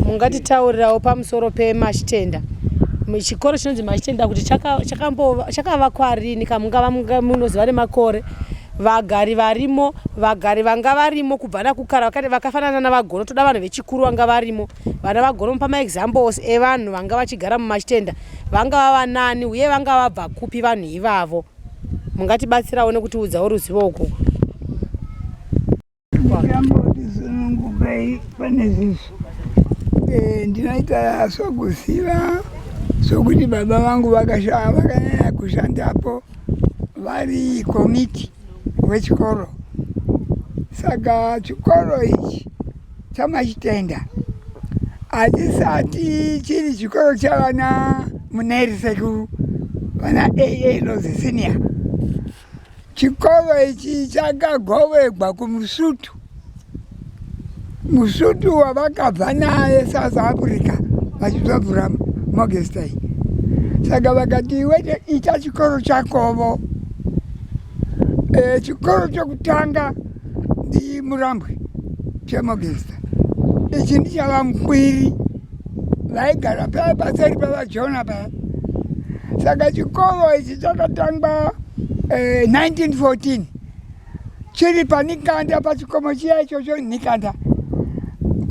mungatitaurirawo pamusoro pemachitenda chikoro chinonzi machitenda kuti chakavakwa rini kamungava munoziva nemakore vagari varimo vagari vanga varimo kubva nakukara vakafanana navagono toda vanhu vechikuru vanga varimo vana vagono mupa maexamples evanhu vanga vachigara mumachitenda vangava vanani uye vanga vabva kupi vanhu ivavo mungatibatsirawo nekutiudzawo ruzivo uku ndikambotizunungukai pane zizvi eh, ndinoita sokuziva sokuti baba vangu vakashaa vakanyanya kushandapo vari komiti wechikoro saka chikoro ichi Chamachitenda hachisati chiri chikoro chavana muneri sekuru vana aa lozi senior chikoro ichi chakagovegwa kumusutu musutu wavakabva naye south africa vachizovhura mogestay saka vakati wete ita chikoro chakovo e, chikoro chokutanga Ndi Murambwi Chemogesta. Ichi ndichava mkwiri vaigara paya paseri pavajona paya saka chikoro ichi chakatangwa eh, 1914 chiri panikanda pachikomo chiya ichocho nikanda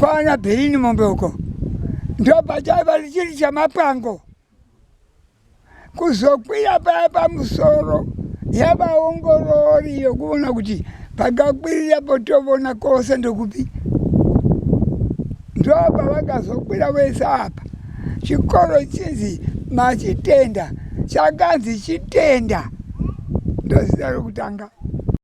kwana berini mombe uko ndo pachaiva chiri chamapango kuzokwira paya pamusoro yavaongorori yokuona kuti pakakwirira potovona kose ndokupi ndo pavakazokwira vese apa chikoro chinzi machitenda chakanzi chitenda ndozita rokutanga